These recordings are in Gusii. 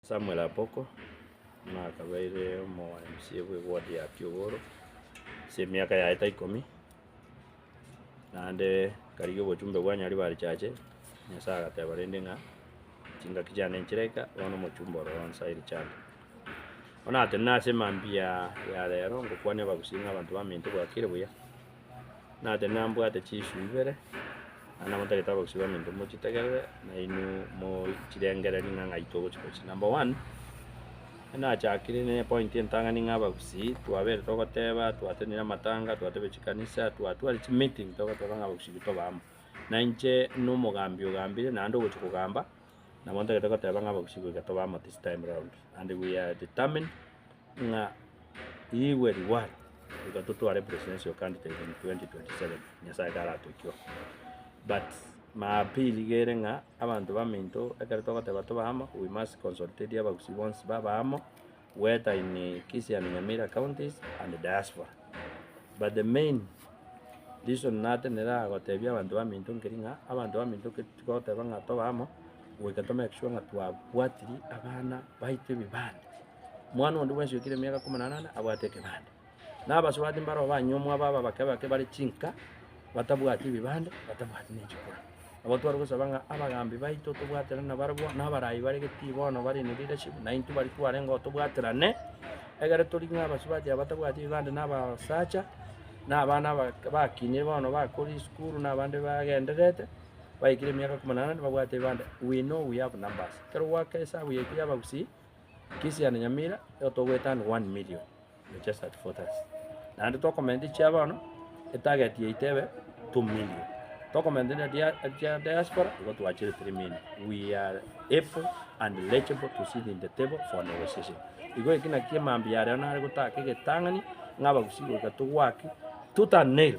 Samuel Apoko, buna akabaire omo mca bwe ward ya Kiogoro ase emiaka yaye ta ikomi, naende akarigia obochumbe bwa Nyaribarichache, Nyasaye agateba rende ng'a chingaki chiane nchire eka, bono omochumbe ore oo nsa Richard. Bono natenena ase mambia ya rero, ngokwania abagusii ng'a abanto baminto bwakire buya. Nache nambwate chisu ibere, naende nabatagete abagusii baminto mochitegerere, nainwe mochirengererie ng'a ng'ai togochia gochia. Number one, nachakire ne epointi entang'ani ng'a abagusii twabeire togoteba, twateneire amatanga, twatebire chikanisa, twatware chimeeting togoteba ng'a abagusii intwe tobe amo. Na inche na omogambi ogambire naende ogochia kogamba, nabo ntagete goteba ng'a abagusii goika tobe amo this time round, naende we are determined ng'a igwe reward iga totware presidential candidate in 2027 nyasaye taratoikwe but ma appeal iga ere ng'a abanto baminto ekero togoteba tobe amo we must consultate abagusii bonsi babe amo whether in kisii and nyamira counties and diaspora but the main reason natenena gotebia abanto baminto nkeri ng'a abanto baminto ekero togoteba ng'a tobe amo goika to make sure ng'a twabwatiri abana baito ebibande. Omwana onde bwensi oikire emiaka ikomi na enane abwate ekebande. Na abasubati mbaroo banyuomwa aba aba abake abake bare chinka, batabwati ebebande, batabwati ne chikura. Nabo tware gosaba ng'a abagambi baito tobwatere na barabwo, na abarai bare getii bono bare ne leadership, naintwe baria twarengeo tobwaterane, egere tori ng'a abasubati aba batabwati ebebande na abasacha, na abana aba bakinire bono bakoria esukuru na abande bagendererete, baikire emiaka ikomi na enane babwate ebebande, we know we have numbers. Ekero gwaka esabu yaito ya abagusii. Christian Nyamira igo togoeta aande one million we just at four thirty naende tokomenta echia bono etarget yaito ebe two million tokomenta na dia echia diaspora igo twachire three million we are able and legible to sit in the table for negotiation igo eki naki mambia aria nare gotaka egetang'ani ng'a abagusii goika togwaki tooth and nail.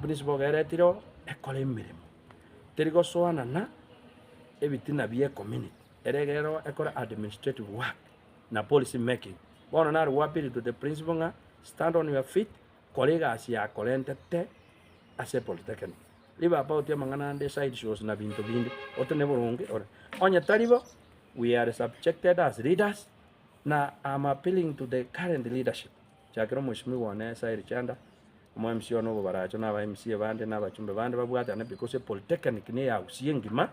Principle iga eretire oo ekore emeremo, teri gosoana na ebitina bie community, ere egere ekore administrative work na policy making. Bono nare go appeal to the principle ng'a stand on your feet, kora egasi yakorentete ase polytechnic. Ribe apa ogote amang'ana ande side shows na binto binde, ote ne boronge ore. Onye tari bo, we are subjected as leaders na am appealing to the current leadership. Chakera omwoisimigwa one Sairi Chanda, omo MC one obobaracho na aba MC bande na abachumbe bande babwatane because epolytechnic niyo eausi engima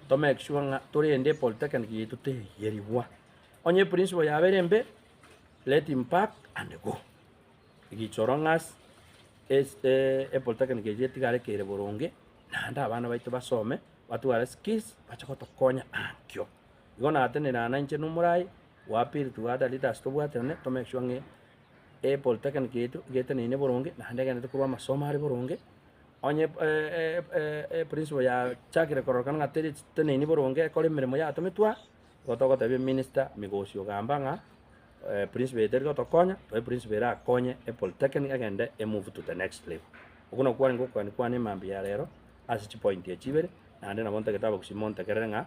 to make sure ng'a torende epolytechnic yaito teyerigwa. Onye eprinciple yabo ere embe, let him pack and go. Egicho orong'asi es- eh, epolytechnic eyio etigare kere boronge naende abana baito basome batware skills bache gotokonya ankio. Igo natenena nainche nomorai Gwapiri tugata leaders tobwaterane to make sure ng'a e polytechnic yaito igeteneine boronge naende egenderete korwa amasomo are boronge. Onye e principal yachakire kororokana ng'a teri teneini boronge ekore emeremo yaye atometwe aa, nigo togotebia minister Migosi ogamba ng'a principal yaito eri gotokonya, tore principal erakonye e polytechnic egende e move to the next level. Okwo nokwo kwarenge okoania kwane mambia ya rero ase chipoint echi ibere, naende nabo ntagete abagusii montegerere ng'a.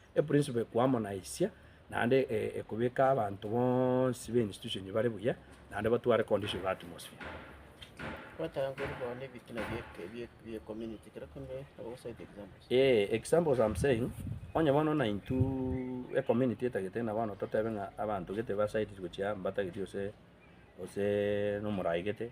Eprinsipo ekoamonaisia naende ekobeka abanto bonsi be institution bare buya naende batware condition ya atmosphere. Kwataka nkore korwa na ebitina bie community kera kende or what side examples? Ee, examples I'm saying, onye bono na intwe ecommunity etagete ng'a bono totebe ng'a abanto gete basaidire gochia mbatagete gose gose nomorai gete,